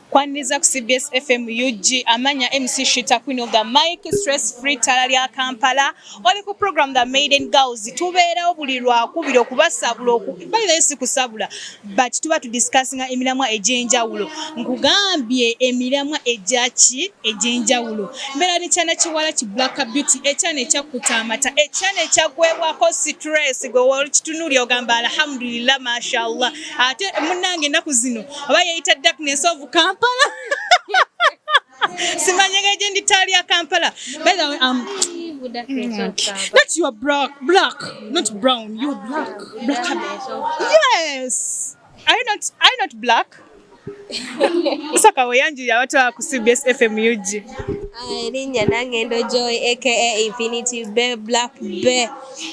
Kwaniriza ku CBS FM UG amanya MC Shita Queen of the Mic Stress Free Tala lya Kampala oli ku program the Maiden Girls tubeerawo buli lwakubiri okubasabula okubalira esi kusabula but tuba tu discussing emiramwa egy'enjawulo nkugambye emiramwa egyaki egy'enjawulo mbeera ne kyana kiwala ki Black Beauty ekyana ekyakkuta amata ekyana ekyagwebwako stress gwe wali kitunuli ogamba alhamdulillah mashallah ate munnange ennaku zino oba yeeyita darkness of kampala simanyega gye ndi taali ya kampala um, Not you are black, black, not brown. You are black, black. Yes. Are you not? Are you not black? Saka weyanjira watu wa ku CBS FM UG. Erinnya nange ndo Joy aka Infinity Be Black Be.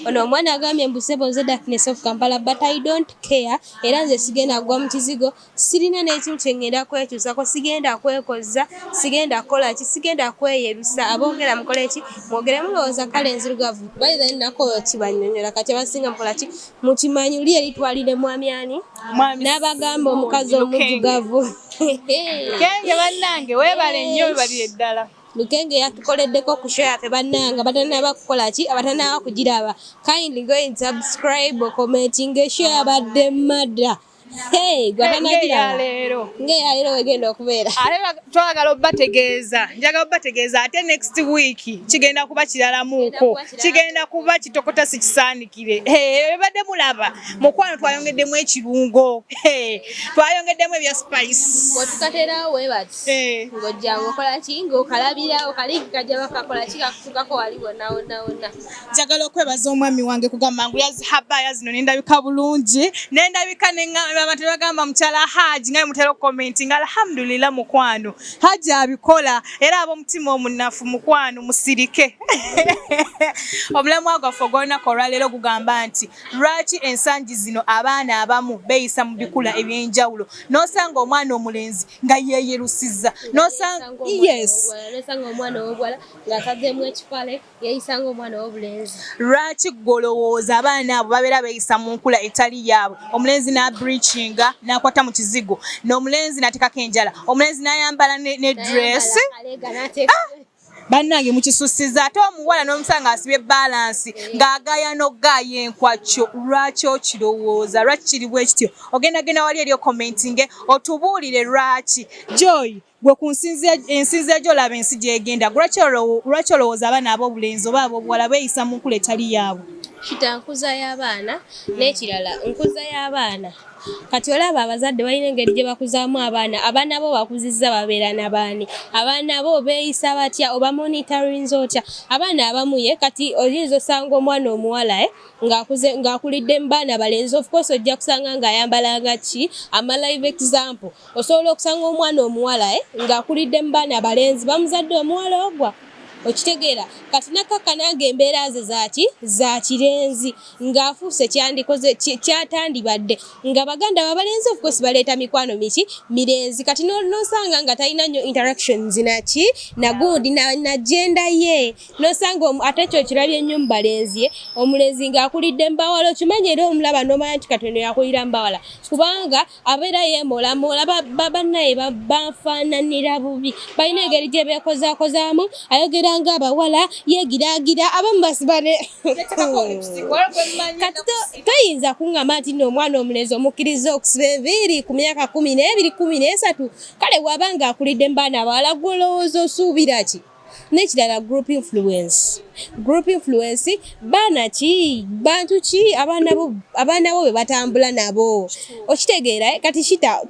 Ono omwana agambye mbu sebo nze darkness of Kampala but I don't care era nze sigenda kugwa mu kizigo sirina n'ekimu kye ŋŋenda kwekyusako sigenda kwekozza sigenda kukola ki sigenda kweyebisa aboogera mukole ki mwogere mulowooza kale enzirugavu bayitha nakooyo kibanyonyola kati abasinga mukola ki mukimanyi uli eri twalire mwami ani n'abagamba omukazi omujugavu kenge bannange weebale nnyo webalire ddala Lukenge yatukoleddeko ku show yaffe bannanga batanaba kukola ki abatanaba kugiraba kindly go and subscribe commentinga show yabadde mada Hey, leero wegenda okubeera ate twagala obategeeza njagala obategeeza ate next week kigenda kuba kiralamuuko kigenda kuba kitokota sikisaanikire ebadde mulaba mukwano twayongeddemu ekirungo twayongeddemu ebya spice Eh. ng'ojja ng'okola ki ng'okalabira okaligi kajja bakakola ki kakufugako wali wonna wonna wonna njagala okwebaza omwami wange kugamba ngu yazihaba yazino nendabika bulungi nendabika abantu bagamba mukyala haaji nga mutera okukomenti nga alhamdulillah mukwano haaji abikola era ab'omutima omunafu mukwano musirike omulamwa gwaffe ogw'olunaku olwaleero gugamba nti lwaki ensangi zino abaana abamu beeyisa mu bikula eby'enjawulo n'osanga omwana omulenzi nga yeeyerusiza lwaki gwolowooza abaana abo babeera beeyisa mu nkula etali yaabwe omulenzi n'abricinga n'akwata mu kizigo n'omulenzi n'ateekako enjala omulenzi n'ayambala ne dress ah! bannange mukisussiza ate omuwala n'omusala ng'asibye balansi ng'agaya n'okugaaya enkwakyo lwaki okirowooza lwaki kiri bwe kityo ogendagenda wali eri okomentinge otubuulire lwaki joy gwe ku ensinzi egyo olaba ensi gyegenda lwaki olowooza abaana ab'obulenzi oba ab'obuwala beeyisa mu nkula etali yaabwe kitankuza y'abaana n'ekirala nkuza y'abaana kati olaba abazadde balina engeri gye bakuzaamu abaana abaana bo bakuzizza babeera na baani abaana bo beeyisa batya oba monitorinza otya abaana abamu ye kati oyinza osanga omwana omuwala eh, ng'akulidde mu baana balenzi of course ojja kusanga ng'ayambala nga ki amalive example osobola okusanga omwana omuwala eh, ng'akulidde mu baana balenzi bamuzadde omuwala ogwa okitegeera kati nakakka nange embeera ze zaki za kirenzi ng'afuuse kyandikoze kyatandibadde nga baganda babalenzi of course baleeta mikwano miki mirenzi kati nosanga nga talina nnyo interactions naki nagundi nagenda ye nosanga ate ekyo kirabye ennyo mu balenzi ye omulenzi ng'akulidde mbawala okimanyi era omulaba nomanya nti katono yakulira mbawala kubanga abeera yeemulamu olaba babannaye bafaananira bubi balina engeri gye beekozakozaamu ayogera nga abawala yeegiraagira abamu basibale kati toyinza kuŋŋama nti nno omwana omulenzi omukkiriza okusiba enviiri ku myaka kumi n'ebiri kumi n'esatu kale waba ng'akulidde mu baana abawala gwolowooza osuubira ki nekirala group influence group influence baana ki bantu ki abaana bo be batambula nabo okitegeera eh, kati kita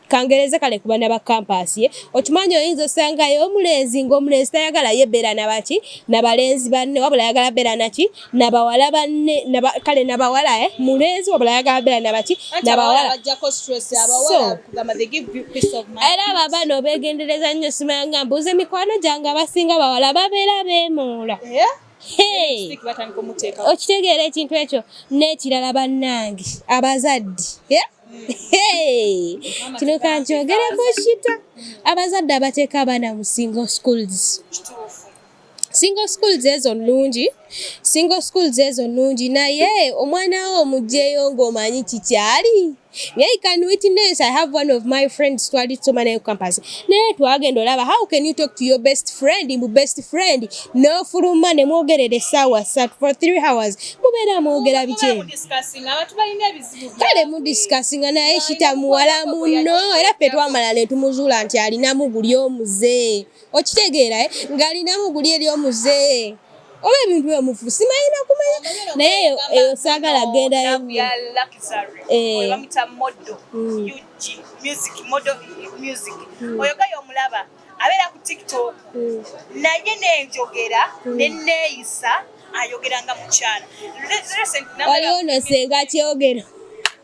kangereza kale kubana ba campus ye okimanyi oyinza osangayo omulenzi ngaomulenzi tayagala yebeera nabaki nabalenzi banne wabula ayagala beera naki na bawala banne kale na bawala eh mulenzi wabula ayagala beera nabaki na bawala era babano begendereza nnyo simanya nga mbuuza emikwano gyange abasinga bawala babeera beemoola eh? okitegeera ekintu ekyo n'ekirala bannange abazadde eh? kino kankyogereko kita abazadde abateeka abaana musingo schools single schools ezo nnungi single schools ezo nnungi naye omwana wo omugyeyo ng'omanyi kikyali naye can witness i have one of my friends twali tusoma naye campus naye twagenda olaba how can you talk to your best friend mbu best friend n'ofuluma ne mwogerera essaawa sat for three hours mubeera mwogera bikye kale mudiscussinga naye kitamuwala munno era ffe twamala ne tumuzuula nti alinamu guli omuze okitegeera eh? ng'alinamu guli eri omuze oba ebintu byomufu simayina kumanya naye eyo saagala gendayo abeera ku tiktok hmm. naye nenjogera hmm. neneeyisa ayogera nga mukyala waliwo no senga kyogero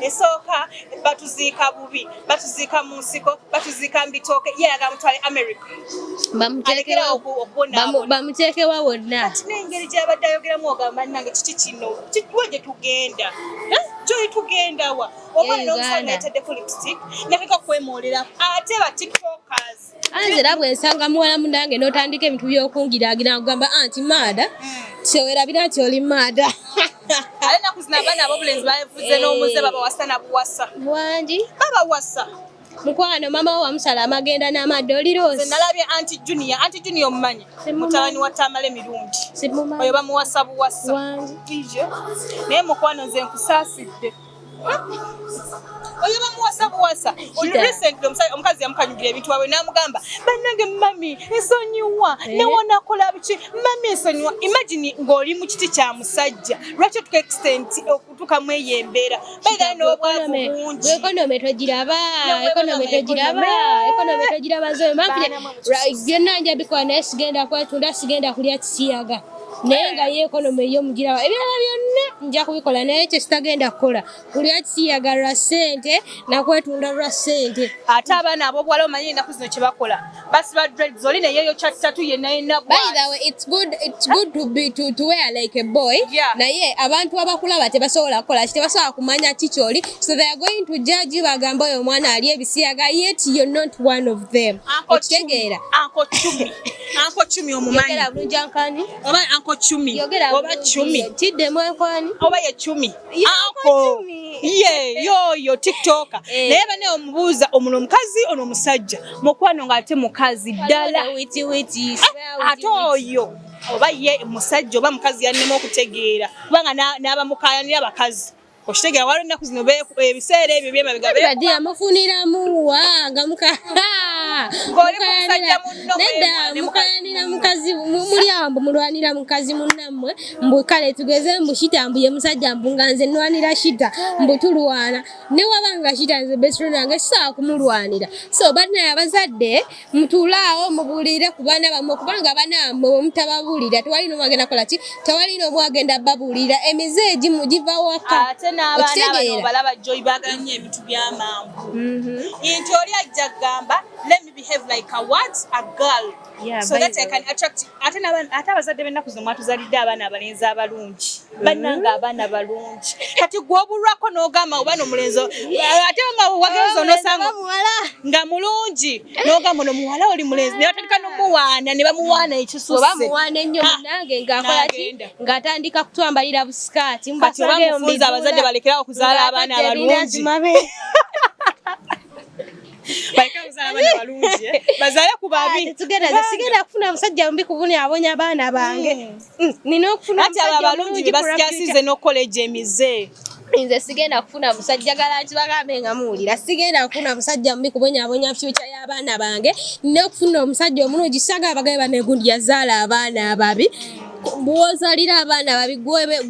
esooka batuziika bubi batuziika mu nsiko batuziika mu bitooke ye ayagala mutwale america bamuteekewa wonna kati n'engeri gy'abadde ayogeramu ogamba nange kiki kino kiwa gye tugenda eh? gyoli tugendawa oba nomusanga yataddeko lipstick nakeka kwemoolera ate ba tiktokers anze era bwe nsanga muwala munange n'otandika ebintu by'okungiraagira nkugamba anti ah, maada kyewerabira nti oli maada ale naku zino abaana abobulenzi bavuze n'omuze babawasa na buwasa wangi babawasa mukwano mama wo wamusala amagenda n'amadde oliroozi nalabye anti junior anti junior omumanyi mutabani wa tamale mirundi oyo bamuwasa buwasa naye mukwano nze nkusaasidde oyo bamuwasa buwasa recently omukazi yamukanyugira ebintu waabwe n'amugamba bannange mami nsonyiwa eh? newonakola biki mami nsonyiwa imagine ng'oli mu kiti kya musajja lwaki otuka extent okutuukamu eyo embeera bairayo n'obwavu bungi ekonome togiraba ekonome togiraba ekonome togiraba zoyo mampire byonna nja bikola naye sigenda kwetunda sigenda kulya kisiyaga naye nga ye ekonomi ey'omugirawo ebirala byonna nja kubikola naye ekyo kitagenda kukola buli akisiyaga lwa ssente nakwetunda lwa ssente ate abaana abobuwala omanyi enaku zino kyebakola basiba dreads oli neyeyo kyattatu yenayenakuwear like a boy naye abantu abakulaba tebasobola kukola ki tebasobola kumanya ki kyoli so they are going to judge bagamba oyo omwana ali ebisiyaga yet you're not one of them okitegeera Anko Chumi omumanyi. Yogera bulungi ankani. Oba Anko Chumi. Yogera oba Chumi. Tidde mu ankani. Oba ye Chumi. Anko. Ye yo yo TikToker. Eh. Naye bane omubuuza omuno omukazi ono omusajja. Mukwano ngate mukazi dala. Witi witi. Ah, ate oyo. Oba ye musajja oba mukazi yannema okutegeera. Kubanga n'abamukayanira abakazi. Okitegera waliwo ennaku zino ebiseera ebyo byemabegadi amufuniramu wa nga muknedda mukayanira mukazi muli awo mbu mulwanira mukazi munnammwe mbu kale tugeze mbu shita mbu ye musajja mbu nga nze nwanira shita mbu tulwana ne waba nga shita nze besiro nange sisobola kumulwanira so banaye abazadde mutulaawo mubuulire ku baana bammwe kubanga abaana bammwe bwe mutababuulira tewali n'omu agenda kola ki tewali n'omu agenda babuulira emize egimu giva waka ate n'abaanabalaba joy baagala nnyo ebintu by'amangu mhm. nti oli ajja kugamba let me behave like a what a girl so that I can attract ate abazadde b'ennaku zino mwatuzalidde abaana abalenzi abalungi bananga abaana balungi kati gwobulwako nogamba obana omulenzi ate nga wagenza onosanga nga mulungi nogamba no muwala oli mulenzi naye atandika nomuwaana ne bamuwaana ekisusebamuwaana ennyo munange ngakolaki ngaatandika kutwambalira busikaati kati obamufunza abazadde balekerawo okuzaala abaana abalungi bazale ku babi sigenda kufuna musajja mbi kubunya abonya abaana bange hmm. Mm, nina okufuna ati abo abalungi bebasikasize n'okukola egyo emize nze sigenda kufuna musajja gala nti bagambe nga muwulira sigenda kufuna musajja mubi kubonyabonya fyuca y'abaana bange nina okufuna omusajja omulungi kisaga abagabe banegundi yazaala abaana ababi bwozalira abaana babi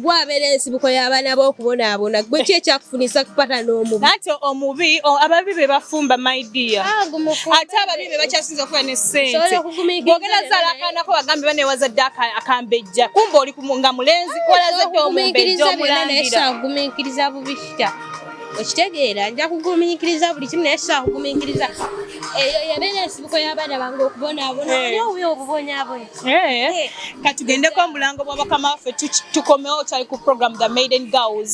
gwabeera ensibuko y'abaana b'okubonaabona gwe ki ekyakufunisa kupata n'omubi ate omubi ababi be bafumba my dear ah, ate ababi be bakyasinza okuba sente bwogenda zala akaana ko bagambe bane wazadde akambejja kumba oli nga mulenzi kolazadde omumbejja omulangira bubi kitya okitegeera nja kugumiikiriza buli kimu naye sobola kugumiikiriza eyo yabeera ensibuko y'abaana bange okubonaabona eh. oli owuyo obubonyaabona eh. eh. katugendeko omulango bwabakama waffe tukomewo kyali ku program the maiden girls